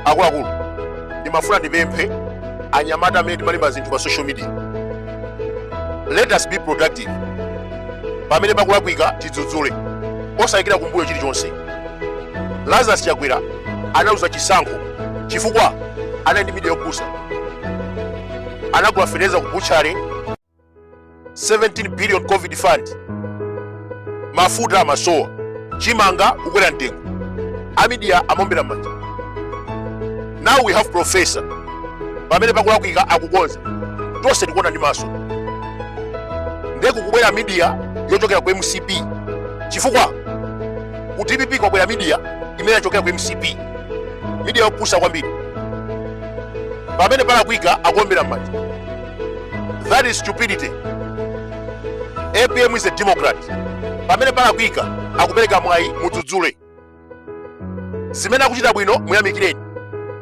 akuluakulu ndimafuna ndipemphe anyamata amene timalemba zinthu pa social media let us be productive pamene pakulakwika tidzudzule osayikira kumbuyo chilichonse lazarus chakwera analuza chisankho chifukwa anali ndi midiya yopusa anagula fertilizer ku butchery 17 billion covid fund mafuta amasowa chimanga kukwera mtengo amidiya amaombera mmanja now we have professor pamene pakulakwika akukonza tonse tikuona ndi maso nde kukubwera midiya yochokera ku mcp chifukwa ku dpp kwabwera midiya imene yachokera ku mcp midiya yopusa kwambiri pamene palakwika akuombera mmanja that is stupidity apm is a democrat pamene palakwika akupereka mwayi mudzudzule zimene akuchita bwino muyamikireni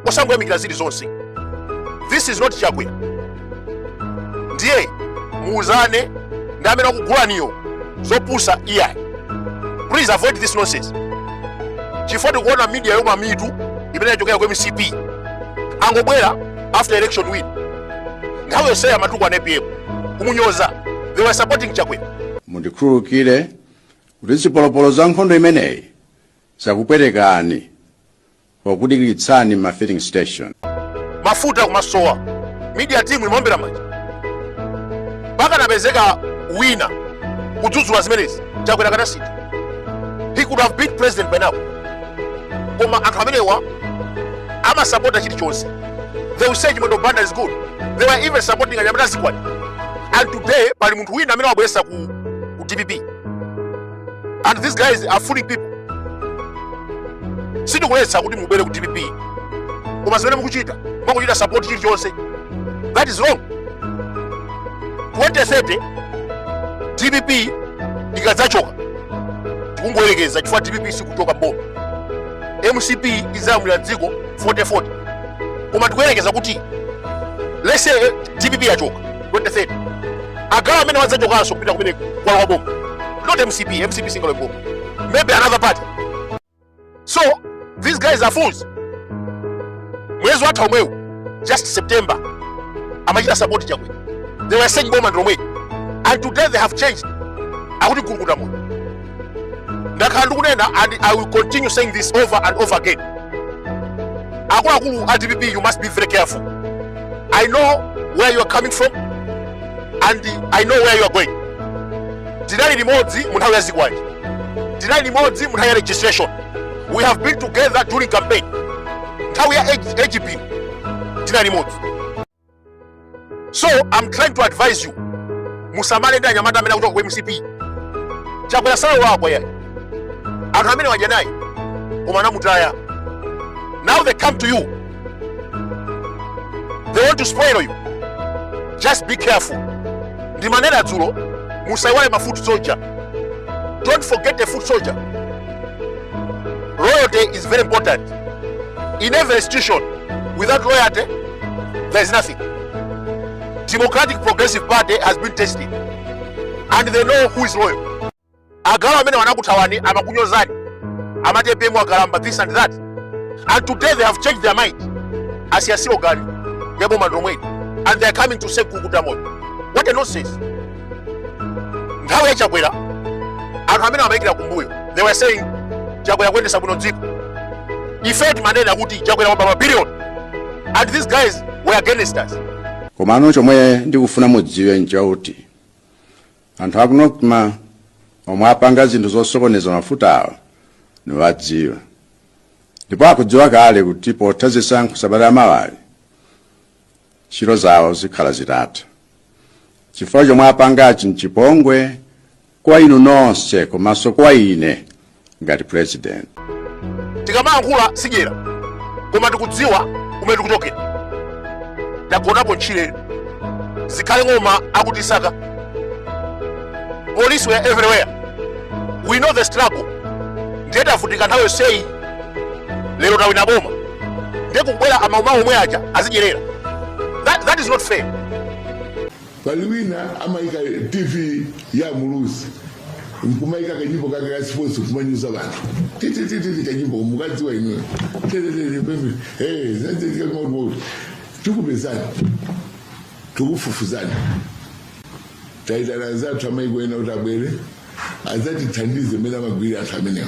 osangoyamikira zili zonse this is not chakwera ndiye muuzane ndi amene akugulaniyo zopusa iyayi please avoid this nonsense chifukwa tikuona media youma mitu imene yachokera ku mcp angobwera after election win nthawi yonseyo amatukwana apm kumunyoza they were supporting chakwera mundikhululukire kuti zipolopolo za nkhondo imeneyi zakupwetekani pokudikiritsani ma filling station mafuta akumasowa media team imaombera manja pakanapezeka wina kudzudzula zimenezi chakwera akanasintha he could have been president by now koma anthu amenewa amasapota chilichonse They will say Chimwendo Banda is good. They were even supporting anyamata a zikwanje. And today, pali munthu wina amene wabweretsa ku, ku DPP. And these guys are fooling people. Sindikuletsa kuti mubwere ku DPP. Koma zimene mukuchita, mukuchita support chilichonse. That is wrong. 2030 DPP ikadzachoka tikungoyerekeza chifukwa DPP sikuchoka mboma. mcp idzalamulira dziko 4040 koma tikuyerekeza kuti let's say dpp yachoka 2030 a guys amenewa adzachokanso kupita kumene kwalowa boma not mcp mcp singalowe boma maybe another party so these guys are fools mwezi watha omwewu just september amachita support chakwera they were saying boma ndilomweli and today they have changed akuti mkulukuta moyo ndakhala ndikunena and i will continue saying this over and over again akuluakulu a dpp you must be very careful i know where you are coming from and i know where you are going tinali limodzi mu nthawi ya zikwanje tinali limodzi mu nthawi ya registration we have been together during campaign nthawi ya apm tinali limodzi so i'm trying to advise you musamale ndi anyamata amene akuchoka ku mcp chakwera sanalakwe ayi anthu amene wadya naye koma anamutaya now they come to you they want to spoil you just be careful ndimanena dzulo musaiwale ma foot soldier don't forget the foot soldier loyalty is very important in every institution without loyalty There is nothing. Democratic Progressive Party has been tested and they know who is loyal. Awa amene anakuthawani amakunyozani amati APM akalamba this and that and today they have changed their mind asiya slogan ya boma ndi lomweli and they are coming to say kukuta moyo what a nonsense nthawi ya chakwera anthu amene amayikira kumbuyo they were saying chakwera kuyendesa bwino dziko ife timanena kuti chakwera waba mabilion and these guys were against us komano chomwe ndikufuna mudziwe nchakuti anthu aku nocma omwe apanga zinthu zosokoneza mafuta awa nawadziwa ndipo akudziwa kale kuti potha zisankho sabata ya mawayi ntchito zawo zikhala zitatha chifukwa chomwe apangachi mchipongwe kwa inu nonse komanso kwa ine ngati president tikamayankhula sidyera koma tikudziwa kumene tikuchokera tagonapo ntchire zikhale ng'oma akutisaka police were everywhere we know the struggle ndiye tavutika nthawi yonseyi lero tawina boma ndiye kubwera amadyera omwe aja azidyerera that, that is not fair pali wina amayika tv ya muluzi nkumayika kanyimbo kake ka sports kumanyoza anthu titititi kanyimbo mukukadziwa inuyo tetetetepepe tikupezani tikufufuza taitana zathu amayiko ena kuti abwere adzatithandize mmene amagwirira anthu amenewa